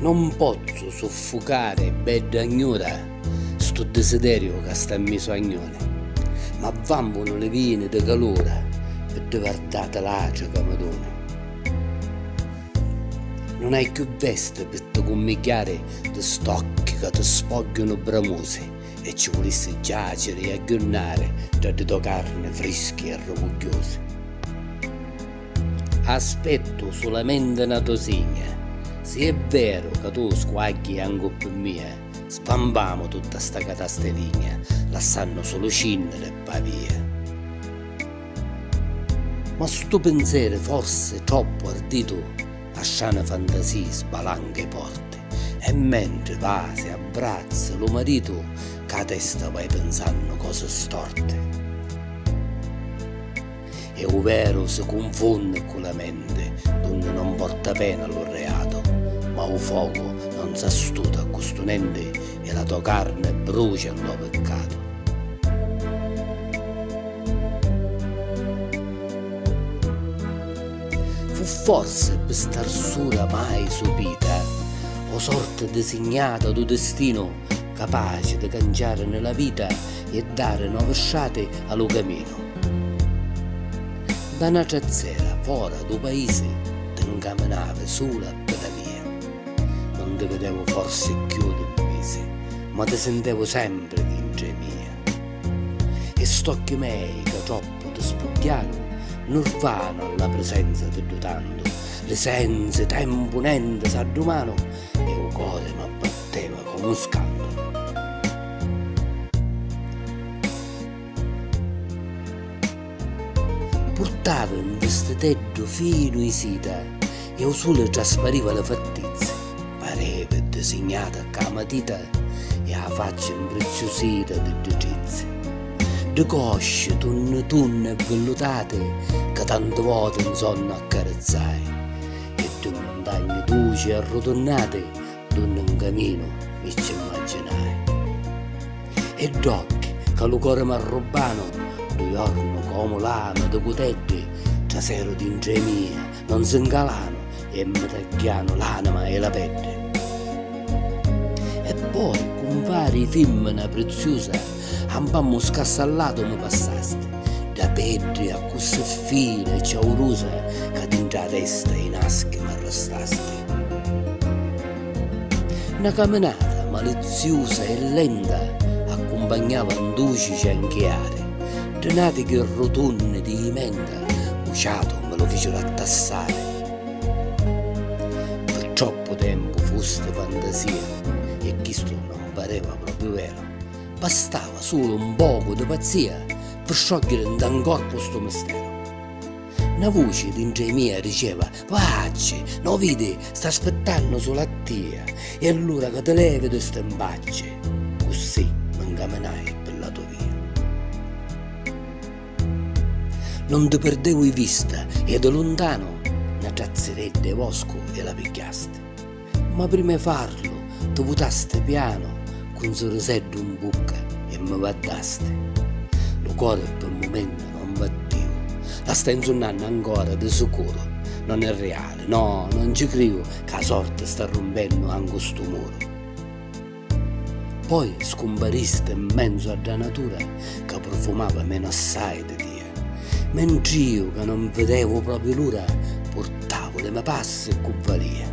Non pozzu suffucari bedda gnura stu disideriu ca sta misu a gnuni, ma vambunu li vini di calura pi divartati l'atri ca mi duni. Nun hai chiù vesti pi ti cummigghiari di st'occhi ca ti spogghiunu bramusi e ci vulissi giaciri e agghiunnari ntra di to carni frischi e rugugghiusi. Aspettu sulamenti na to signa. Si è veru ca tu squagghi ancu ppi mia, svampamu tutta sta catasteligna, lassannu sulu cinniri e pavia. Ma stu pinseri forsi troppu arditu a strani fantasii sbalanca i porti e mentri vasi abbrazzi lu maritu cca testa vai pinsannu cosi storti. e u veru si cunfunni cu la menti dunni non porta pena lu reatu ma u focu non s'astuta cu stu nenti e la to carni brucia nno piccatu. Fu forsi pi st'arsura mai supita o sorti disignata du distinu capaci di canciarini la vita e dari novi strati a lu caminu. Nta na trazzera fora dû paisi ti 'ncaminavi sulu a pidalia. Nun ti videvu forsi cchiù d'un misi, ma ti sintevu sempri dintra 'i mia. E st'occhi mei ca troppu ti spugghiaru nurvanu a la prisenza di ddu tantu, li sensi, tempu, nenti, s'addumanu e u cori m'abbatteva comu un scantu. Purtava un vistiteddu finu i sita e au suli traspariva li fattizzi, pareva disignata cca a matita e a facci mpriziusita di ddi trizzi. Ddi cosci tunni tunni e villutati ca tanti voti 'nsonnu accarizzai e ddi muntagni duci e arrutunnati, D'unni 'n caminu mi cci 'mmagginai. E dd'occhi ca lu cori m'arrubbanu, ddu jornu comu lama di cuteddi traseru dintra 'i mia, non si 'ncalanu e mi tagghianu l'anima e la peddi. E poi, cumpari 'i fimmina priziusa, a 'mpammu scassallatu mi passasti, dda peddi accussì fina e ciaurusa ca dintra 'a testa 'i naschi m'arrastasti. Na caminata maliziusa e lenta accumpagnava un duci cianchiari, tri navichi rutunni di menta u ciatu mi lu ficiru attassari. Pi troppu tempu fusti fantasia e chistu non pareva propriu veru, bastava sulu un pocu di pazzia pi sciogghiiri nta 'n corpu stu misteru. Na vuci dintra i mia diceva, Vacci, no vidi, sta aspittannu sulu a tia, e allura ca ti levi di sti mbacci. Cussì mi ncaminai pi la to via. Non ti pirdevu i vista e di luntanu na trazziredda i voscu e la pigghiasti. Ma prima 'e farlu ti vutaste piano cu 'n suriseddu 'n bucca e mi vaddaste. Lu core pi 'n mumentu non battiu, la stai 'nzunnannu ancora di sicuru, non è riali, no, non ci criu ca 'a sorti sta rumpennu ancu stu muru. Poi scumpariste 'n menzu a dda natura ca prufumava menu assai di tia. Mentr'io ca non videvu propriu l'ura purtavu li me passi cu valia.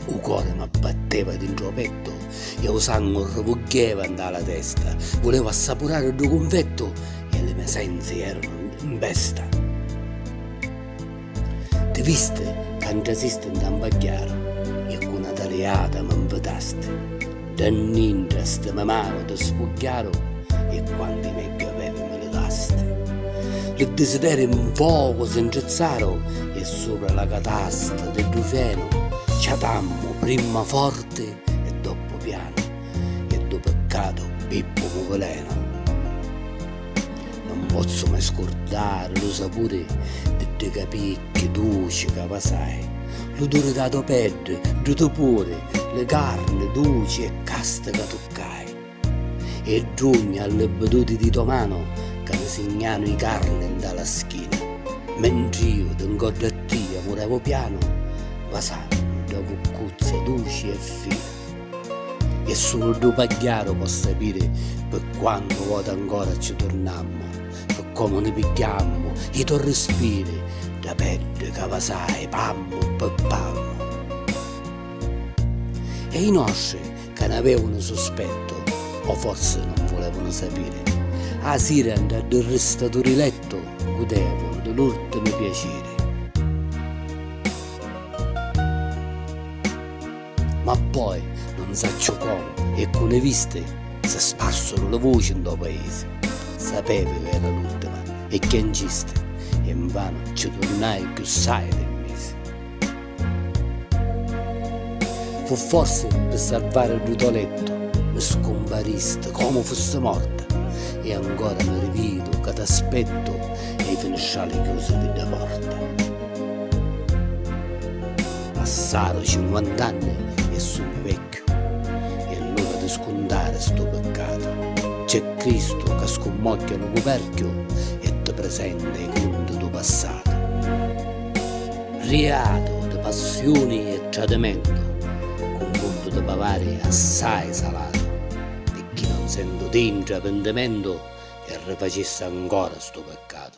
U cori m'abbatteva dintru o pettu e u sangu rruvuggheva nta la testa, vulevu assapurari ddu cunfettu e li me sensi eranu 'n besta. Ti visti ca 'ntrasiste 'nta 'n pagghiara e cu 'na taliata mi 'nfitasti. Dda 'nnintra sti me manu ti spugghiaru e quanti neghi avevi mi livasti. Li disideri 'n focu si 'ntrizzaru e supra la catasta di ddu fenu ciatammu prima forti e doppu pianu e ddu piccatu Pippu mi vulenu. Nun pozzu mai scurdari lu sapuri di dui capicchi duci ca vasai, l'uduri dâ to peddi, dû to puri, li carni duci e casti ca tuccai, e drugna a li biduti dî to manu ca mi signanu i carni nta la schina, mentr'iu di ngoddu a tia murevu pianu, vasannu dda cuccuzza duci e fina. E sulu ddu pagghiaru po sapiri pi quantu voti ancora cci turnammu, pi comu ni pigghiammu i to rispiri, dda peddi ca vasai pammu pi pammu. E i nostri ca n'avevunu suspettu, o forsi non vulevunu sapiri, a sira nta ddu ristaturi lettu gudevunu di l'urtimi piaciri. Ma poi, non sacciu comu e cu li visti, si sparsuru li vuci ntô paisi. Sapevi ca era l'ultima e chiancisti, e nvanu ci turnai cchiù ssai di misi. Fu forsi pi sarvari ddu tò lettu, mi scumparisti comu fussi morta, e ancora mi rividu ca t'aspettu e i finistrali chiusi di dda porta. Passaru cinquant'anni e sugnu vecchiu e l'ora di scuntari stu piccatu. C'è Cristu ca scummogghia lu cuperchiu e ti presenta i cunti du passatu. Riatu di passiuni e tradimentu cu mundu di pavari assai salatu. Picchì non sentu dintra pintimentu e rifacissi ancora stu piccatu.